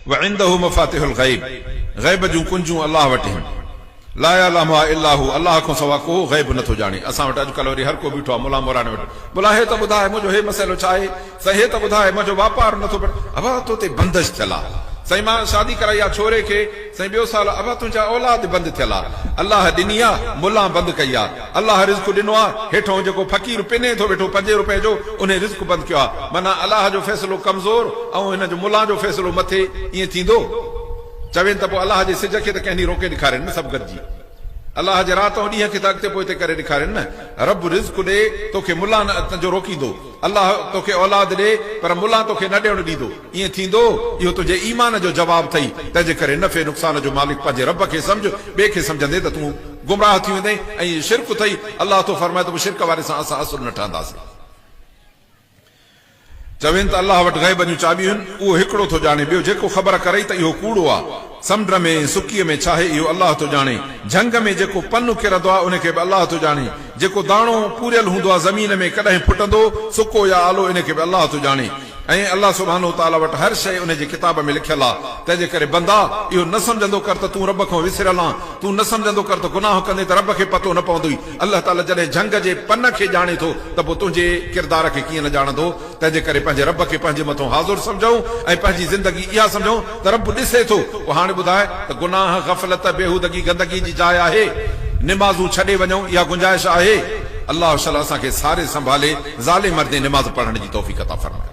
وعنده مفاتح الغيب، غيب جون ڪنجون الله وٽ هين. لا يعلمها الا هو، الله کان سوا ڪو غيب نٿو ڄاڻي. اسان وٽ اڄڪلهه وري هر ڪو بيٺو آهي ملا موراڻي وٽ، ملا هي ته ٻڌاء منهنجو هي مسئلو ڇا آهي؟ سائين هي ته ٻڌاء منهنجو واپار نٿو بڻي، ابا تو تي بندش ٿيل آ، سائين مان شادي ڪرائي آ ڇوري کي، سائين ٻيو سال، ابا تنهنجا اولاد بند ٿيل آ، الله ڏني آ، ملان بند ڪئي آ. الله رزق ڏنو آ، هيٺئون جيڪو فقير پني ٿو ويٺو پنجين روپين جو، انهي رزق بند ڪيو آ، معنيٰ الله جو فيصلو ڪمزور ۽ هن جو ملان جو فيصلو مٿي، ائين ٿيندو؟ چوين ته پوء الله جي سج کي ته ڪنهن ڏينهن روڪي ڏيکارين نه سڀ گڏجي. الله جي رات ۽ ڏينهن کي ته اڳتي پوئتي ڪري ڏيکارين نه. رب رزق ڏي، توکي ملان جو روڪيندو. الله توکي اولاد ڏي، پر ملان توکي نه ڏيڻ ڏيندو. ائين ٿيندو، اهو تنهنجي ايمان جو جواب اٿئي، تنهن جي ڪري نفعي نقصان جو مالڪ پنهنجي رب کي سمجهه، ٻئي کي سمجهندين ته تون گمراهه ٿي ويندين ۽ اهو شرڪ اٿئي، الله ٿو فرمائي ته پوء شرڪ واري سان اسان اصل نه ٺهنداسين. چوين ته الله وٽ غيب جون چاٻيون آهن، اهو هڪڙو ٿو ڄاڻي، ٻيو جيڪو خبر ڪرئي ته اهو ڪوڙو آهي، سمنڊ ۾ ۽ سڪيء ۾ ڇا آهي، اهو الله ٿو ڄاڻي، جهنگ ۾ جيڪو پنو ڪرندو آهي، ان کي به الله ٿو ڄاڻي، جيڪو داڻو پوريل هوندو آهي زمين ۾ ڪڏهن ڦٽندو، سڪو يا آلو، ان کي به الله ٿو ڄاڻي. ۽ الله سبحانه وتعاليٰ وٽ هر شيء ان جي ڪتاب ۾ لکيل آهي، تنهنجي ڪري بندا! اهو نه سمجهندو ڪر ته تون رب کان وسريل آن، تون نه سمجهندو ڪر ته گناهه ڪندين ته رب کي پتو نه پوندوئي، الله تعاليٰ جڏهن جهنگ جي پن کي ڄاڻي ٿو ته پوء تنهنجي ڪردار کي ڪيئن نه ڄاڻندو، تنهنجي ڪري پنهنجي رب کي پنهنجي مٿان حاضر سمجهون ۽ پنهنجي زندگي اها سمجهون ته رب ڏسي ٿو، پوء هاڻي ٻڌاء ته گناهه، غفلت، بيهودگي، گندگي جي جاء آهي؟ نمازون ڇڏي وڃون اها گنجائش آهي؟ الله شل اسان کي ساري سنڀالي. ظالم مردين نماز پڙهڻ جي توفيق عطا فرمايو.